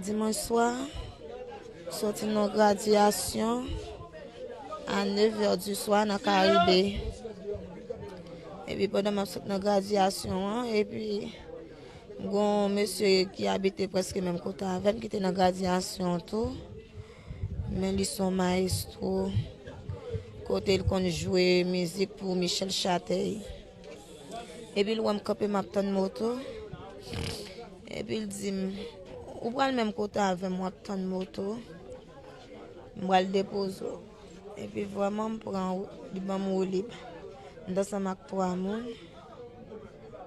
Dimanch swa, m soti nan yon gradyasyon a nevè di swa nan Karibe. Epi pandan m ap sot nan gradyasyon an, epi m gen yon mesye ki abite prèske menm kote avè m ki te nan gradyasyon an tou. Men li se yon mayestwo kote l konn jwe mizik pou Michel Chatey. Epi l wè m kanpe m ap tann moto. Epi l di m, ou pral menm kote avè m w ap tann moto. M pral depoze w. Epi vwaman m pran wout, li ban m woulib. M te ansanm ak twa moun.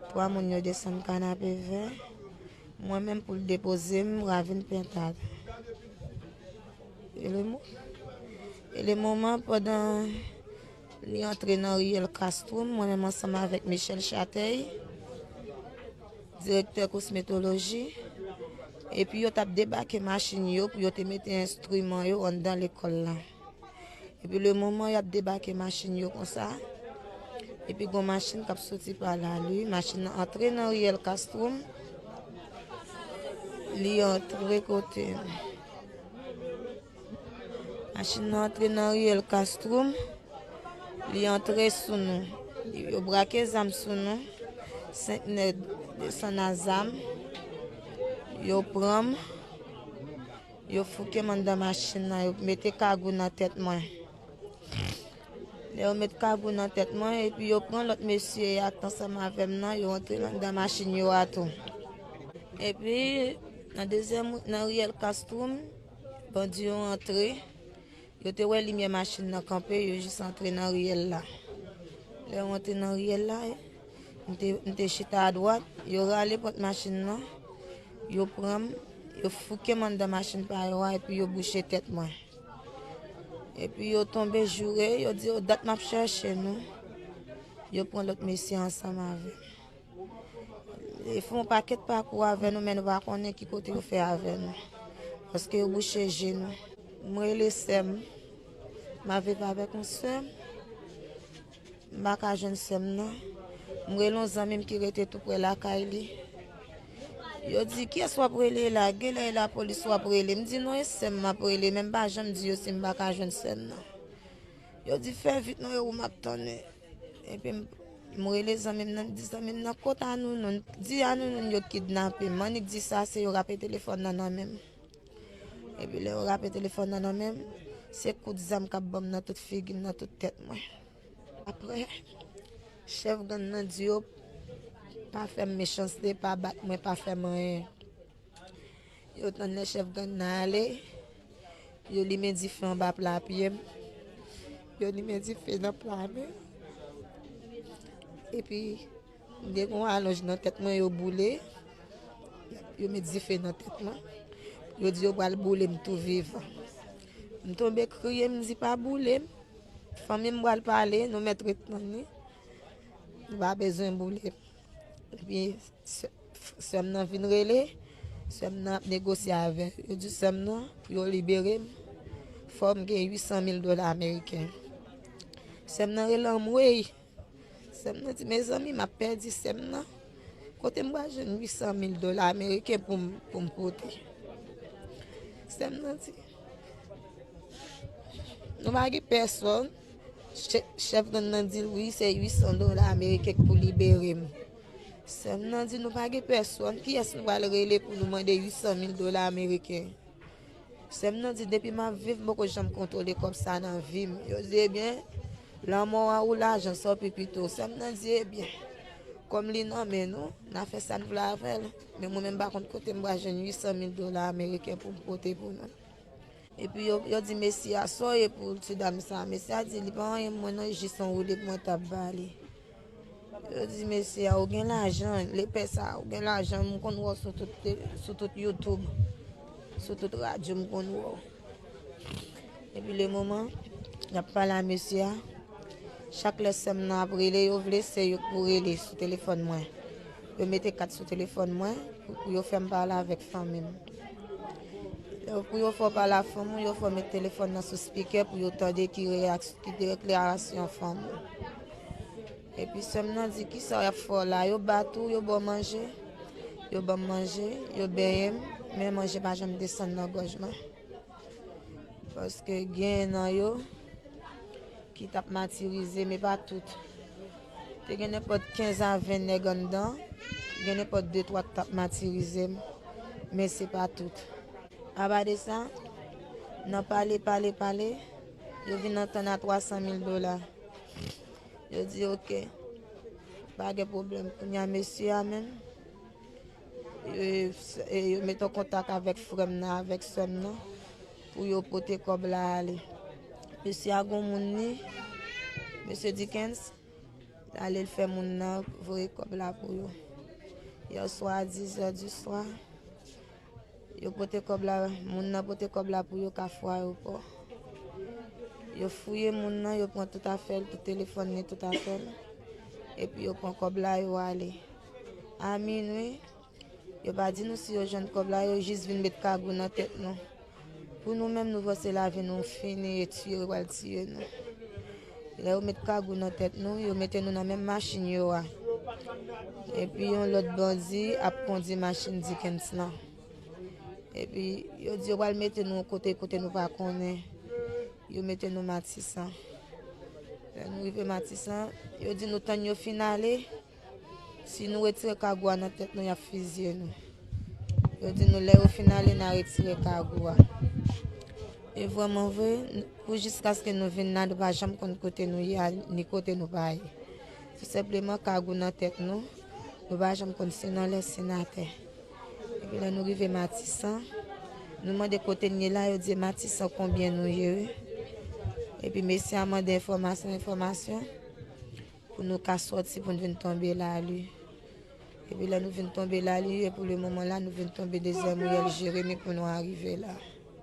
Twa moun yo desann Kanapevè. Mwen menm pou l depoze m Ravin Pentad. E le moman pandan. Li antre nan riyèl Castro, mwen menm ansanm avèk Michel Chatey, direktè kosmetoloji, epi yo t ap debake machin yo pou yo te mete enstriman yo anndan lekòl la. Epi lemoman y ap debake machin yo konsa, epi gon machin k ap soti pa la, li machin nan antre nan riyèl Castro, li antre kote. Machin nan antre nan riyèl Kastrum, li antre sou nou. Yo brake zam sou nou, 5 nèg desann a zam, yo pran m, yo fouke m anndan machin nan, yo mete kagou nan tèt mwen. Lè yo met kagou nan tèt mwen, epi yo pran lòt mesye a ki t ansanm avè m nan, yo antre anndan machin yo a tou. Epi, nan dezyèm, nan riyèl Kastrum. Bandi yo antre, yo te wè limyè machin nan kanpe, yo jis antre nan riyèl la. Lè yo antre nan riyèl la, m te chita adwat, yo rale pòt machin nan, yo pran m, yo fouke m anndan machin pa yo a, epi yo bouche tèt mwen. Epi yo tonbe joure, yo di yo dat m ap chèche nou, yo pran lòt mesye ansanm avè m. Yo fè yon pakèt pakou avè nou men nou pa konnen ki kote yo fè avè nou. Paske yo bouche je nou. M rele sè m. M ap viv avèk yon sè m. M pa ka jwenn sè m nan. M rele yon zanmi m ki rete tou pre lakay li. Yo di, kiyès w ap rele la? Genlè e lapolis w ap rele. M di non e sè m m ap rele. Men m pa janm di yo si m pa ka jwenn sè m nan. Yo di fè vit non e ou m ap tann. Epi m rele zanmi m nan, m di zanmi m nan kot Anounoun. Di Anounoun yo kidnape m. Annik di sa se yo rape telefòn nan nan men m. Epi lè yo rape telefòn nan nan men m, se kout zam k ap ban m nan tout figi m, nan tout tèt mwen. Apre, chèf gang nan di yo pa fè m mechanste, pa bat mwen, pa fè m anyen. Yo tann lè chèf gang nan ale, yo limen dife anba pla pye m, yo limen dife nan pla mi yo. Epi, m gen yon alonj nan tèt mwen yo boule, yo met dife nan tèt mwen. Yo di yo pral boule m tou vivan. M tonbe kriye, m di pa boule m. Fanmi m pral pale, nou mèt ret tann li. Nou pa bezwen boule m. Epi sèm nan vin rele, sèm nan ap negosye avè l. Yo di sèm nan pou yo libere m, fò m gen 800 mil dola ameriken. Sèm nan rele anmwey. Sèm nan di mezanmi m ap pèdi sèm nan. Kote m pral jwenn 800 mil dola ameriken pou m pote? Sèm nan di nou pa gen pèsòn. Chèf gang nan di l wi se 800 dola ameriken k pou libere m. Sè m nan di nou pa gen pèsòn, kiyès nou pral rele pou nou mande 800 mil dola ameriken. Sè m nan di depi m ap viv m poko janm kontwole kòb sa a nan vi m. Yo di ebyen, lanmò a ou lajan sa ou pi pito. Sè m nan di ebyen, kòm li nan men nou, n a fè sa n vle avè l. Men mwen menm m pa konn kote m pral jwenn 800 mil dola ameriken pou m pote pou nou. Epi yo di mesi a, Sa w ye pou ti dam sa a? Mesi a di, Li pa anyen pou mwen non, jis yon woulib mwen t ap ba li. Yo di mesi a, Ou gen lajan, lepè sa a, ou gen lajan, m konn wè w sou tout youtube, sou tout radyo m konn wè w. Epi lemoman y ap pale a mesi a, chak lè sè m nan ap rele, yo vle se yo k pou rele sou telefòn mwen. Yo mete kat sou telefòn mwen pou yo fè m pale avèk fanmi m. Pou yo fè w pale ak fanm ou, yo fè w met telefòn nan sou spikè pou yo tande ki deklarasyon fanm ou. Epi sèm nan di ki sa y ap fè w la, yo bat ou, yo ba w manje, yo ban m manje, yo benyen m, men manje pa janm desann nan gòj mwen. Paske gen nan yo ki t ap matirize m, e pa tout. Te gen nenpòt 15 a 20 nèg anndan, gen nenpòt de twa k t ap matirize m, men se pa tout. Anba de sa, nan pale pale pale, yo vin antann a 300 mil dola. Yo di oke, pa gen pwoblèm. Kounye a mesye a menm, yo mete an kontak avèk frè m nan, avèk sè m nan. Pou yo pote kòb la ale. Mesye a gon moun li, mesye Dickens, li ale li fè moun nan voye kòb la pou yo. Yèswa a 10 zè di swa, yo pote kòb la, moun nan pote kòb la pou yo Kafou Ayopò. Yo fouye moun nan, yo pran tout afè l, tout telefòn li, tout afè l. Epi yo pran kòb la, yo ale. A minwi. Yo pa di nou si yo jwenn kòb la, yo jis vin met kagou nan tèt nou. Pou nou menm nou panse lavi nou fini etu yo pral tiye nou. Lè yo met kagou nan tèt nou, yo mete nou nan menm machin yo a. Epi yon lòt bandi ap kondi machin Dikens lan. Epi yo di yo pral mete nou yon kote, kote nou pa konnen. Yo mete nou Matisan. Lè nou rive Matisan, yo di nou tann yo fin ale. Si nou retire kagou a nan tèt nou y ap fiziye nou. Yo di nou lè yo fin ale na retire kagou a. E vwèman vwe, pou jiskaske nou vin la nou pa janm konn kote nou ye ni kote nou pa ye. Tou senpleman kagou nan tèt nou, nou pa janm konn si nan lè si nan tè. Epi lè nou rive Matisan, nou mande kote nou ye la, yo di Matisan konbyen nou ye. Epi mesye a mande enfòmasyon, enfòmasyon. Pou nou ka sòti pou nou vin tonbe lalu. Epi lè nou vin tonbe lalu e pou le moman la nou vin tonbe dezyèm riyèl Jeremi pou nou arive la.